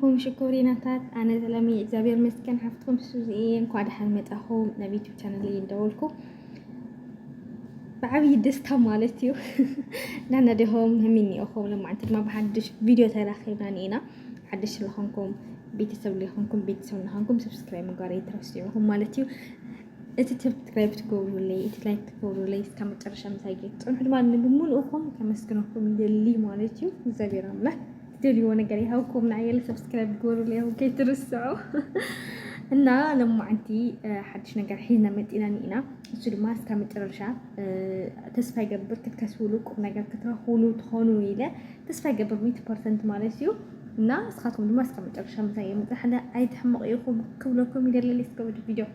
ኹም ሽኮሪናታት ኣነ ዘለሚ እግዚኣብሔር ይመስገን ሓፍትኩም ሱዚ እየ እንኳዕ ደሓን መጻኹም ናብ ዩቱብ ቻነለይ እንደወልኩ ብዓብዪ ደስታ ማለት እዩ ናና ዲኹም ህሚን እኹም ልማዕንቲ ድማ ብሓድሽ ቪድዮ ተራኺብና ኒኢና ሓድሽ ዝኾንኩም ቤተሰብ ሊኾንኩም ቤተሰብ ንኾንኩም ሰብስክራይብ ምግባር ይትረሱ ይኹም ማለት እዩ እቲ ሰብስክራይብ ትገብሩለይ እቲ ላይክ ትገብሩለይ እስካ መጨረሻ ምሳይ ፅንሑ ድማ ንምሉእኹም ከመስግነኩም ይደሊ ማለት እዩ እግዚኣብሔር ኣምላክ ትደልይዎ ነገር ይሃብኩም ንኣየለ ሰብስክራይብ ግበሩለይ ውን ከይትርስዑ እና ለማዓንቲ ሓድሽ ነገር ሒዝና መፂና ኒኢና እሱ ድማ እስካ መጨረሻ ተስፋ ይገብር ክትከስብሉ ቁም ነገር ክትረክብሉ ትኾኑ ኢለ ተስፋ ይገብር ሚእቲ ፐርሰንት ማለት እዩ እና እስካትኩም ድማ እስካ መጨረሻ ምሳይ የምፅእ ሓለ ኣይትሕምቕ ኢኹም ክብለኩም ይደለል እስከ ወዲ ቪድዮ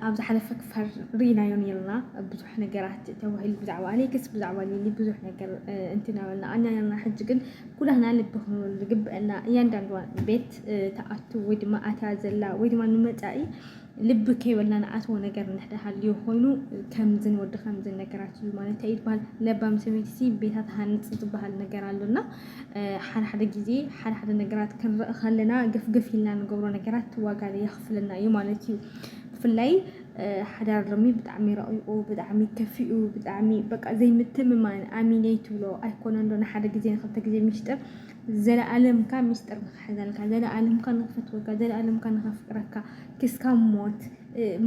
ኣብ ዝሓለፈ ክፋል ርኢናዮ ነርና ብዙሕ ነገራት ተባሂሉ ብዛዕባ ኣሌክስ ብዛዕባ ሊሊ ብዙሕ ነገር እንትናበልና ኣና ነርና ሕጂ ግን ኩላህና ልቢ ክንብል ዝግብአና እያንዳንዷ ቤት ተኣቱ ወይ ድማ ኣትያ ዘላ ወይ ድማ ንመፃኢ ልቢ ከይበልና ንኣትዎ ነገር እንድሕር ሃልዩ ኮይኑ ከምዝን ወዲ ከምዝን ነገራት እዩ ማለት ይበሃል ለባም ሰበይቲ ቤታ ትሃንፅ ዝበሃል ነገር ኣሎና ሓደ ሓደ ግዜ ሓደ ሓደ ነገራት ክንርኢ ከለና ግፍግፍ ኢልና ንገብሮ ነገራት ዋጋ የኽፍለና እዩ ማለት እዩ ብፍላይ ሓዳር ሎሚ ብጣዕሚ ረቂቁ ብጣዕሚ ከፊኡ ብጣዕሚ በቃ ዘይምትምማን ኣሚነይ ትብሎ ኣይኮነን ዶ ንሓደ ግዜ ንክልተ ግዜ ሚስጥር ዘለኣለምካ ሚስጥር ንክሕዘልካ ዘለኣለምካ ንክፈትወካ ዘለኣለምካ ንከፍቅረካ ክስካብ ሞት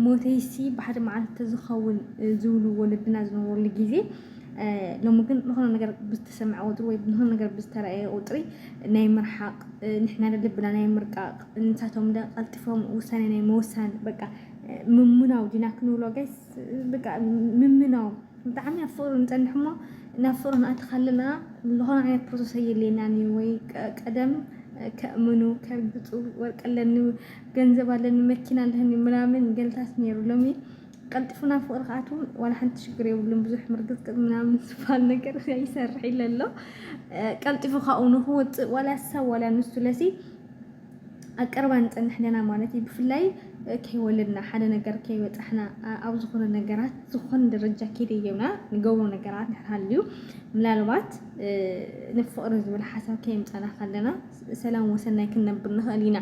ሞተይሲ ብሓደ መዓልቲ ተዝኸውን ዝብሉ ወለድና ዝነበሩሉ ግዜ ሎሚ ግን ዝኾነ ነገር ብዝተሰምዐ ቁፅሪ ወይ ዝኾነ ነገር ብዝተረኣየ ቁፅሪ ናይ ምርሓቕ ንሕና ልብና ናይ ምርቃቕ ንሳቶም ደ ቀልጢፎም ውሳኔ ናይ ምውሳን በቃ ምምናው ዲና ክንብሎ ጋይስ በቃ ምምናው ብጣዕሚ ኣብ ፍቕሪ ንፀንሕ እሞ ናብ ፍቕሪ ንኣቲ ካለና ዝኾነ ዓይነት ፕሮሰስ ኣየድልየናን እዩ ወይ ቀደም ከእምኑ ከርግፁ ወርቂ ኣለኒ ገንዘብ ኣለኒ መኪና ኣለኒ ምናምን ገልታት ነይሩ ሎሚ ቀልጢፉ ናብ ፍቅሪ ክኣትው ዋላ ሓንቲ ሽግር የብሉን ብዙሕ ምርግፅቅጥ ምናምን ዝባል ነገር ይሰርሕ ኢለ ኣሎ ቀልጢፉ ካብኡ ንክወፅእ ዋላ ሰብ ዋላ ንሱ ለሲ ኣብ ቀረባ ንፀንሕ ኣለና ማለት እዩ ብፍላይ ከይወለድና ሓደ ነገር ከይበፃሕና ኣብ ዝኾነ ነገራት ዝኾነ ደረጃ ከይደየብና ንገብሮ ነገራት እንድሕር ሃልዩ ምናልባት ንፍቕሪ ዝብል ሓሳብ ከየምፃና ከለና ሰላም ወሰናይ ክንነብር ንኽእል ኢና።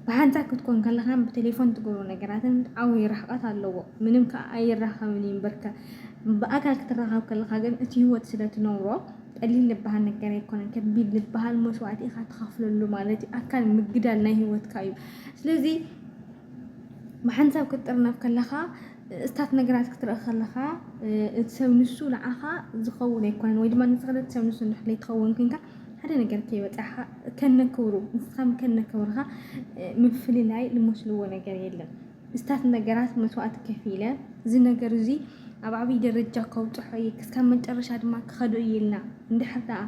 ብሓንሳእ ክትኮን ከለኻን ብቴሌፎን ትገብሮ ነገራትን ዓብይ ርሕቐት ኣለዎ። ምንም ከዓ ኣይራኸብን እዩ እምበርከ ብኣካል ክትራኸብ ከለኻ ግን እቲ ህይወት ስለትነብሮ ቀሊል ዝበሃል ነገር ኣይኮነን። ከቢድ ዝበሃል መስዋእቲ ኢኻ ትኸፍለሉ ማለት እዩ። ኣካል ምግዳል ናይ ህይወትካ እዩ። ስለዚ ብሓንሳብ ክትጥርነፍ ከለኻ እስታት ነገራት ክትርኢ ከለኻ እቲ ሰብ ንሱ ንዓኻ ዝኸውን ኣይኮነን ወይ ድማ ንስኻ ነቲ ሰብ ንሱ ንሕለይ ትኸውን ኩንካ ሓደ ነገር ከይበፃሓ ከነክብሩ ንስኻም ከነክብርኻ ምፍልላይ ልመስልዎ ነገር የለን እስታት ነገራት መስዋእቲ ከፍ ኢለ እዚ ነገር እዚ ኣብ ዓብይ ደረጃ ከውፅሖ እየ ክሳብ መጨረሻ ድማ ክኸዱ እየ ኢልና እንድሕር ደኣ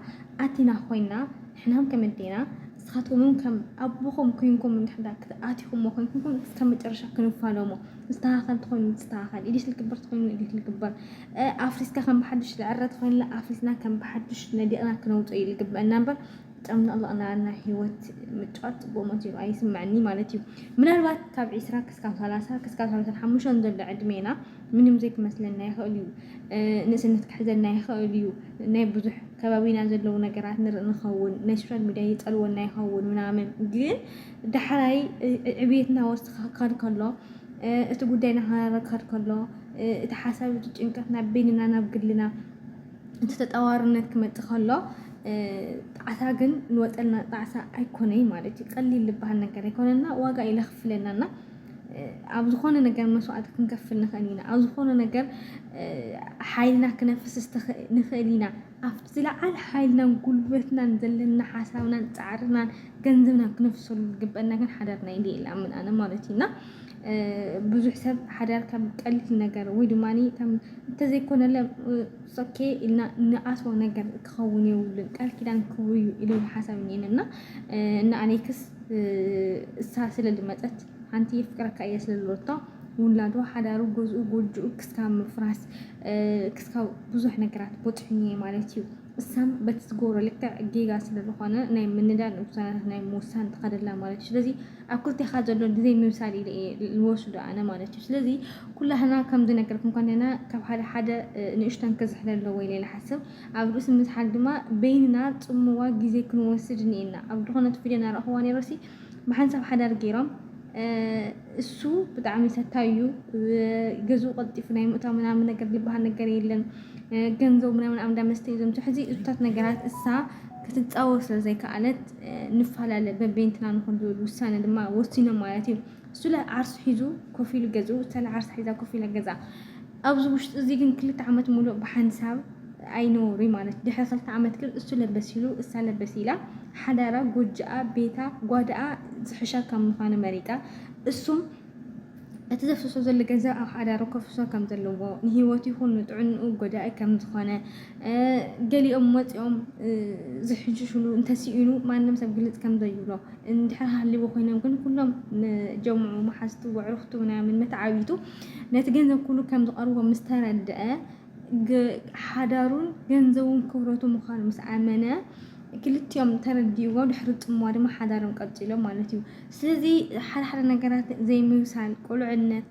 ኣቲና ኮይና ሕናም ከመዴና ንስኻትኩምን ከም ኣቦኹም ኮይንኩም እንድሕር ደኣ ክትኣቲኹሞ ኮይንኩም ክሳብ መጨረሻ ክንፋለሞ ዝተኻኸል ትኾይኑ ዝተኻኸል ኢዲት ልግበር ትኾይኑ ኢዲት ልግበር ኣፍሪስካ ከም ብሓዱሽ ዝዕረድ ኮይንላ ኣፍሪስና ከም ብሓዱሽ ነዲቕና ክነውጾ እዩ ዝግበአና እምበር ጨምለቕለቕ እናበልና ሂወት ምጭዋት ጽቡቕ መሲሉ ኣይስምዐኒ ማለት እዩ። ምናልባት ካብ ዒስራ ክስካብ ሰላሳ ክስካብ ሰላሳን ሓሙሽተን ዘሎ ዕድሜና ምንም ዘይክመስለና ይኽእል እዩ። ንእስነት ክሕዘና ይኽእል እዩ። ናይ ብዙሕ ከባቢና ዘለዉ ነገራት ንርኢ ንኸውን ናይ ሶሻል ሚድያ ይጸልወና ይኸውን ምናምን ግን ዳሕራይ ዕብየትና ወስኽ ክኸድ ከሎ እቲ ጉዳይ እናኸረረ ክኸድ ከሎ፣ እቲ ሓሳብ እቲ ጭንቀት ናብ በይንና ናብ ግልና እቲ ተጠዋርነት ክመጽእ ከሎ ጣዕሳ ግን ንወጠልና ጣዕሳ ኣይኮነይ ማለት እዩ። ቀሊል ዝበሃል ነገር ኣይኮነና ዋጋ እዩ ለኽፍለና እና ኣብ ዝኾነ ነገር መስዋእቲ ክንከፍል ንኽእል ኢና። ኣብ ዝኾነ ነገር ሓይልና ክነፍስስ ንኽእል ኢና። ኣብቲ ዝለዓለ ሓይልናን ጉልበትናን ዘለና ሓሳብናን ጻዕርናን ገንዘብናን ክነፍሰሉ ዝግበአና ግን ሓዳርና ኢለ ይኣምን ኣነ ማለት እዩ እና ብዙሕ ሰብ ሓዳር ከም ቀሊል ነገር ወይ ድማ ከም እንተዘይኮነለ ሶኬ ኢልና ንኣትዎ ነገር ክኸውን የብሉን ቃል ኪዳን ክብሩ እዩ ኢሉ ሓሳብ እኔን እና እና ኣኔክስ እሳ ስለ ዝመፀት ሓንቲ የፍቅረካ እየ ስለዝበለቶ ውላዱ ሓዳሩ ገዝኡ ጎጆኡ ክስካብ ምፍራስ ክስካብ ብዙሕ ነገራት ቦፅሑኒ እየ ማለት እዩ እሳም በቲ ዝገብሮ ልክዕ ጌጋ ስለዝኾነ ናይ ምንዳድ ውሳነታት ናይ ምውሳን ትኸደላ ማለት እዩ ስለዚ ኣብ ክልቴኻ ዘሎ ግዜ ምብሳል ኢለ እየ ዝወስዶ ኣነ ማለት እዩ ስለዚ ኩላህና ከም ዝነገርኩም ኮንና ካብ ሓደ ሓደ ንእሽተን ክዝሕለ ኣለዎ ኢለ ዝሓስብ ኣብ ርእሲ ምዝሓል ድማ በይንና ፅምዋ ግዜ ክንወስድ እኒኤና ኣብ ዝኾነት ቪድዮ ናረእኽዋ ነይረሲ ብሓንሳብ ሓዳር ጌሮም እሱ ብጣዕሚ ሰታዩ እዩ ገዝኡ ቀልጢፉ ናይ ምእታው ምናምን ነገር ዝበሃል ነገር የለን ገንዘቡ ምናምን ኣብ እንዳ መስተ እዩ ዘምፅሑ እዚ እሱታት ነገራት እሳ ክትፃወር ስለ ዘይከኣለት ንፈላለ በቤንትና ንኹን ዝብል ውሳነ ድማ ወሲኖም ማለት እዩ እሱለ ዓርሱ ሒዙ ኮፍ ኢሉ ገዝኡ እሳለ ዓርሳ ሒዛ ኮፍ ኢላ ገዛ ኣብዚ ውሽጢ እዚ ግን ክልተ ዓመት ሙሉእ ብሓንሳብ ኣይነውሪ ማለት ድሕሪ ክልተ ዓመት ግን እሱ ለበስ ኢሉ እሳ ለበስ ኢላ ሓዳራ ጎጆኣ ቤታ ጓዳኣ ዝሕሻ ከም ምዃኑ መሪጻ እሱም እቲ ዘፍስሶ ዘሎ ገንዘብ ኣብ ሓዳሩ ከፍስሶ ከም ዘለዎ ንሂወቱ ይኹን ንጥዕንኡ ጎዳኢ ከም ዝኾነ ገሊኦም ወፂኦም ዝሕንሽሽሉ እንተስኢኑ ማንም ሰብ ግልፅ ከም ዘይብሎ እንድሕር ሃልይዎ ኮይኖም ግን ኩሎም ጀምዑ መሓዝቱ ወዕርኽቱ ምናምን መተዓቢቱ ነቲ ገንዘብ ኩሉ ከም ዝቐርቦ ምስ ተረድአ ሓዳሩን ገንዘቡን ክብረቱ ምዃኑ ምስ ኣመነ ክልቲኦም ተረዲእዎ ድሕሪ ጥምዋ ድማ ሓዳሮም ቀፂሎም ማለት እዩ። ስለዚ ሓደ ሓደ ነገራት ዘይምብሳል ቁልዕነት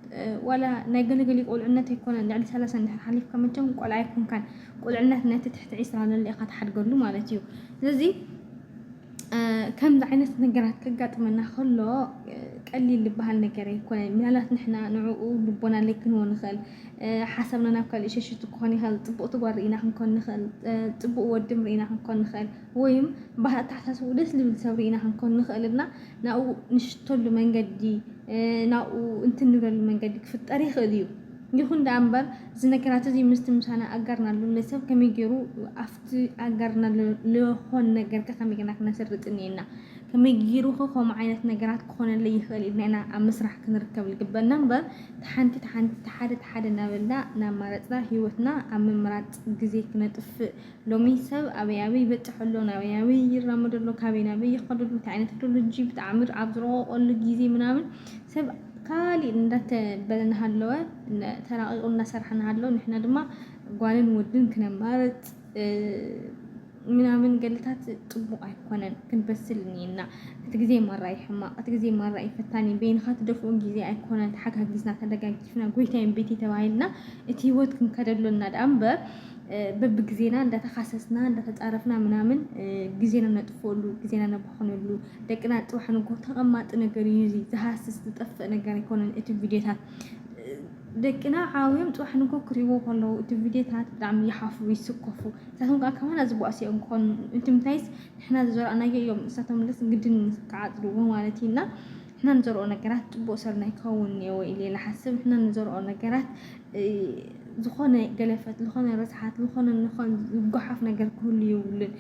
ዋላ ናይ ገለገሊ ቁልዕነት ኣይኮነን ልዕሊ ሰላሳ እንድሕር ሓሊፍካ መቸም ቆልዓ ኣይኮንካን ቁልዕነት ነቲ ትሕቲ ዒስራ ለለ ኢኻ ትሓድገሉ ማለት እዩ ስለዚ ከምዚ ዓይነት ነገራት ከጋጥመና ከሎ ቀሊል ዝበሃል ነገር ኣይኮነን። ምናልባት ንሕና ንዕኡ ልቦና ለይክንዎ ንኽእል፣ ሓሳብና ናብ ካልእ ሸሽቱ ክኾን ይኽእል፣ ፅቡቕቲ ጓል ርኢና ክንኮን ንኽእል፣ ፅቡቕ ወድም ርኢና ክንኮን ንኽእል። ወይም ብሃ ኣተሓሳስብኡ ደስ ልብል ሰብ ርኢና ክንኮን ንኽእል እና ናብኡ ንሽተሉ መንገዲ ናብኡ እንትን ንብለሉ መንገዲ ክፍጠር ይኽእል እዩ። ይኹን ደኣ እምበር እዚ ነገራት እዚ ምስቲ ምሳና ኣጋርና ልሎ ሰብ ከመይ ገይሩ ኣብቲ ኣጋርና ልኾን ነገር ከመይ ገና ክነስርጥ እኒኤና ከመይ ገይሩ ከምኡ ዓይነት ነገራት ክኾነለይ ይኽእል ኢልና ኢና ኣብ ምስራሕ ክንርከብ ዝግበና እምበር ተሓንቲ ተሓንቲ ተሓደ ተሓደ እናበልና እናማረፅና ሂወትና ኣብ ምምራፅ ግዜ ክነጥፍእ ሎሚ ሰብ ኣበይ ኣበይ ይበጽሕ ኣሎ፣ ናበይ ናበይ ይራመድ ኣሎ፣ ካበይ ናበይ ይኸድ ኣሎ፣ እንታይ ዓይነት ቴክኖሎጂ ብተኣምር ኣብ ዝረቐቐሉ ግዜ ምናምን ሰብ ካሊእ እንዳተበለ እናሃለወ ተራቒቑ እናሰርሐ እናሃለወ ንሕና ድማ ጓልን ወድን ክነማርጽ ምናምን ገለታት ጽቡቕ ኣይኮነን ክንበስል እኒና እቲ ግዜ ማራ እዩ ሕማቕ እቲ ግዜ ማራ እዩ ፈታኒ በይንኻ ትደፍኦ ግዜ ኣይኮነን ተሓጋጊዝና ተደጋጊፍና ጎይታይን ቤተይ ተባሂልና እቲ ህይወት ክንከደሎና ደኣ እምበር በብግዜና እንዳተኻሰስና እንዳተጻረፍና ምናምን ግዜና ነጥፍእሉ ግዜና ነባኽነሉ ደቅና ጽባሕ ንግሆ ተቐማጢ ነገር እዩ እዚ ዝሃስስ ዝጠፍእ ነገር ኣይኮነን እቲ ቪድዮታት ደቅና ዓብዮም ጽባሕ ንግሆ ክርእይዎ ከለዉ እቲ ቪድዮታት ብጣዕሚ ይሓፍሩ ይስከፉ ንሳቶም ከኣ ካባና ዝባእሱ እዮም ክኾኑ እቲ ምንታይስ ንሕና ዘዘራእናዮ እዮም ንሳቶም ግድን ክዓጽድዎ ማለት እዩ እና ንሕና ንዘርኦ ነገራት ጽቡቕ ስርናይ ክኸውን እኔዎ ኢለ ልሓስብ። ንሕና ንዘርኦ ነገራት ዝኾነ ገለፈት፣ ዝኾነ ርስሓት፣ ዝኾነ ንኾን ዝጎሓፍ ነገር ክህሉ የብሉን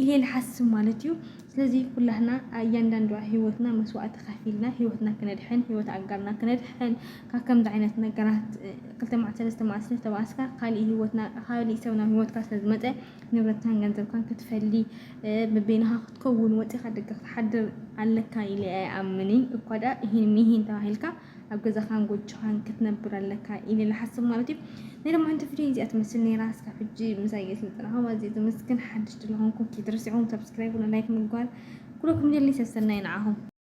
ኢለ ልሓስብ ማለት እዩ። ስለዚ ኩላህና እያንዳንዱ ህይወትና መስዋእቲ ከፊልና ህይወትና ክነድሕን ህይወት ኣጋርና ክነድሕን ካብ ከምዚ ዓይነት ነገራት ክልተ መዓልቲ ሰለስተ መዓልቲ ስለዝተባኣስካ ካሊእ ህይወትና ካሊእ ሰብ ናብ ህይወትካ ስለዝመፀ ንብረትካን ገንዘብካን ክትፈሊ በበይንኻ ክትከውን ወጺኻ ደገ ክትሓድር ኣለካ ኢለ ኣይኣምንን። እኳ ደኣ እሂን ምሂን ተባሂልካ ኣብ ገዛኻን ጎጆኻን ክትነብር ኣለካ ኢለ ልሓስብ ማለት እዩ። ናይ ለማዓንቲ ቪድዮ እዚኣ ትመስል ነይራ። እስካብ ሕጂ ምሳይ የስልጥናኹም ኣዝየ ዘመስግን። ሓድሽ ድለኹንኩም ከይትረስዕዎም ሰብስክራይብ ላይክ ምግባር ኩለኩም ደሊ ሰሰናይ ንዓኹም።